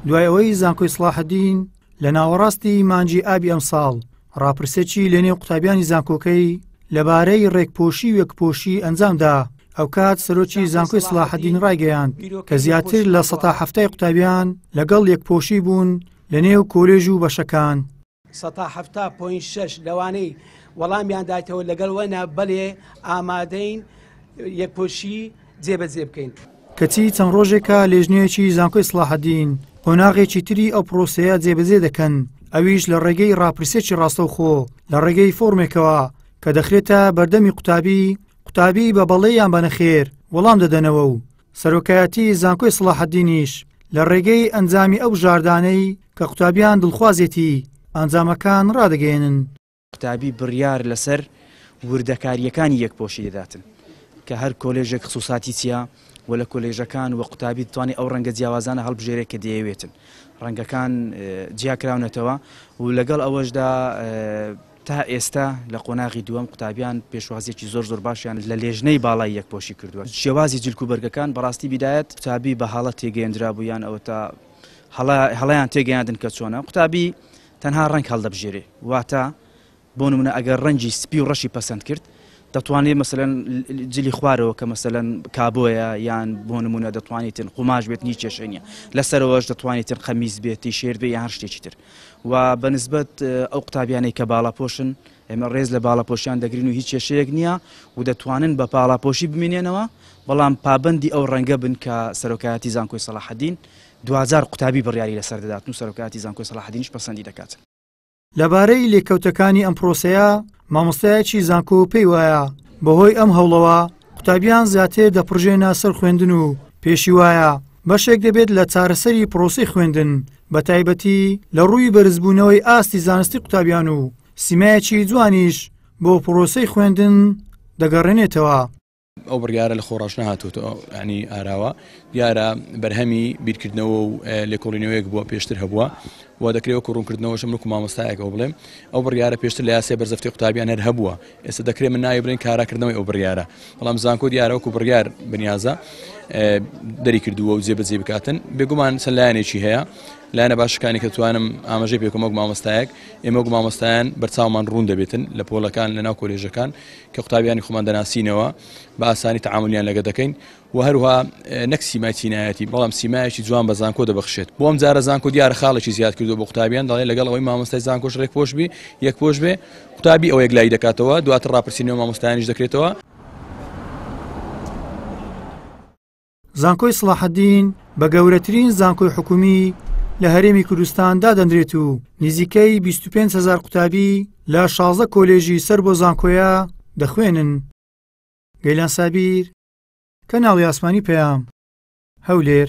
دوای ئەوەی زانکۆی سڵاحدین لە ناوەڕاستی مانجی ئابی ئەمساڵ ڕاپرسێکی لەنێو قوتابیانی زانکۆکەی لەبارەی ڕێکپۆشی وەکپۆشی ئەنجامدا ئەو کات سەرۆکی زانکۆی سلاحدین ڕایگەیاند کە زیاتر لە سەتا هەفتای قوتابیان لەگەڵ یەکپۆشی بوون لە نێو کۆلێژ و بەشەکان سەتا حەفتا پۆینت شەش لەوانەی وەڵامیان دایتەوە لەگەڵ وەنا بەلێ ئامادەین یەکپۆشی جێبەجێ بکەین. کەچی چەند ڕۆژێکە لێژنەیەکی زانکۆی سڵاحەدین قۆناغێکی تری ئەو پرۆسەیە جێبەجێ دەکەن ئەویش لە ڕێگەی ڕاپرسێکی ڕاستەوخۆ لە ڕێگەی فۆرمێکەوە کە دەخرێتە بەردەمی قوتابی قوتابی بە بەڵێ یان بە نەخێر وەڵام دەدەنەوە و سەرۆکایەتی زانکۆی سڵاحەدینیش لە ڕێگەی ئەنجامی ئەو ژاردانەی کە قوتابیان دڵخوازێتی ئەنجامەکان ڕادەگەیەنن. قوتابی بڕیار لەسەر وردەکارییەکانی یەکپۆشی دەداتن کە هەر کۆلێژێک خسووساتی چییە و لە کۆلێژەکان و قوتابی دەتوانێت ئەو ڕەنگە جیاوازانە هەڵبژێرێت کە دەیەوێتن. ڕەنگەکان جیاکراونەتەوە و لەگەڵ ئەوەشدا تا ئێستا لە قۆناغی دووەم قوتابیان پێشوازیەکی زۆر زۆر باشیان لە لێژنەی باڵای یەکپۆشی کردووە شێوازی جلک و بەرگەکان بەڕاستی بیدایەت قوتابی بە هەڵە تێگەیەندرابوو یان ئەوەتا هەڵە هەڵەیان تێگەیاندن کە چۆنە قوتابی تەنها ڕەنگ هەڵدەبژێرێ واتە بۆ نمونە ئەگەر ڕەنگی سپی و ڕەشی پەسەند کرد دەتوانێت مەسەن جلی خوارەوە کە مەسەن کابۆیە یان بۆ نمونە دەتوانێتن قوماش بێت نی کێشێنە لەسەرەوەش دەتوانێتن قەمیز بێتی شێر بێ یان شتێکی تر و بە نسبەت ئەو قوتابیانەی کە باڵاپۆشن ئێمە ڕێز لە باڵاپۆشیان دەگرین و هیچ کێشەیەک نییە و دەتوانن بە پاڵاپۆشی بمینێنەوە بەڵام پابەندی ئەو ڕەنگە بن کە سەرۆکایەتی زانکۆی سەڵاحەدین دواجار قوتابی بڕیاری لەسەر دەدات و سەرۆکایەتی زانکۆی سەڵاحەدینش پەسەندی دەکات. لەبارەی لێکەوتەکانی ئەم پرۆسەیە، مامۆستایەکی زانکۆ پێی وایە، بەهۆی ئەم هەوڵەوە قوتابیان زیاتر دەپڕژێنە سەر خوێندن و پێشی وایە بەشێک دەبێت لە چارەسەری پرۆسی خوێندن بە تایبەتی لە ڕووی بەرزبوونەوەی ئاستی زانستی قوتابیان و سیمایەکی جوانیش بۆ پرۆسی خوێندن دەگەڕێنێتەوە. ئەو بڕیارە لە خۆڕاش نەهاتووە ینی ئاراوە دیارە بەرهەمی بیرکردنەوە و لێکۆڵینەوەیەک بووە پێشتر هەبووە و دەکرێت وەکو ڕوونکردنەوەشم وەکو مامۆستایەکەوە بڵێم ئەو بڕیارە پێشتر لە یاسێ بەرزەفتی قوتابیان هەر هەبووە ئێستا دەکرێت من ناوی برێن کاراکردنەوەی ئەو بڕیارە بەڵام زانکۆ دیارە وەکو بڕیار بنیازە دەری کردووە و جێبەجێ بکاتن بێگومان چە لایەنێکی هەیە لایەنە باشەکانی کە توانم ئاماژەی پێکمەک مامۆستایەک ئێمە مامۆستایان بەرچاومان ڕوون دەبێتن لە پۆلەکان لە ناو کۆلێژەکان کە قوتابیانی خۆمان دەناسینەوە بە ئاسانی تعاملیان لەگە دەکەین وە هەروها نەک سیمای چینایەتی بەڵام سیمایەکی جوان بە زانکۆ دەبخشێت بۆم جارە زانکۆ دیارە خاڵێکی زیاد کردو بۆ قوتابیان دەڵێ لەگەڵ ئەوەی مامۆستای زانکۆش ڕێک پۆشبی یەک پۆش بێ قوتابی ئەو یەکلایی دەکاتەوە دواتر ڕاپرسینەوە مامۆستایانیش دەکرێتەوە زانکۆی سڵاحەدین بە گەورەترین زانکۆی حکومی لە هەرێمی کوردستان دادەندرێت و نزیکەی 25 هزار قوتابی لە 16 کۆلێژی سەر بۆ زانکۆیە دەخوێنن گەیلان سابیر کەناڵی ئاسمانی پەیام هەولێر.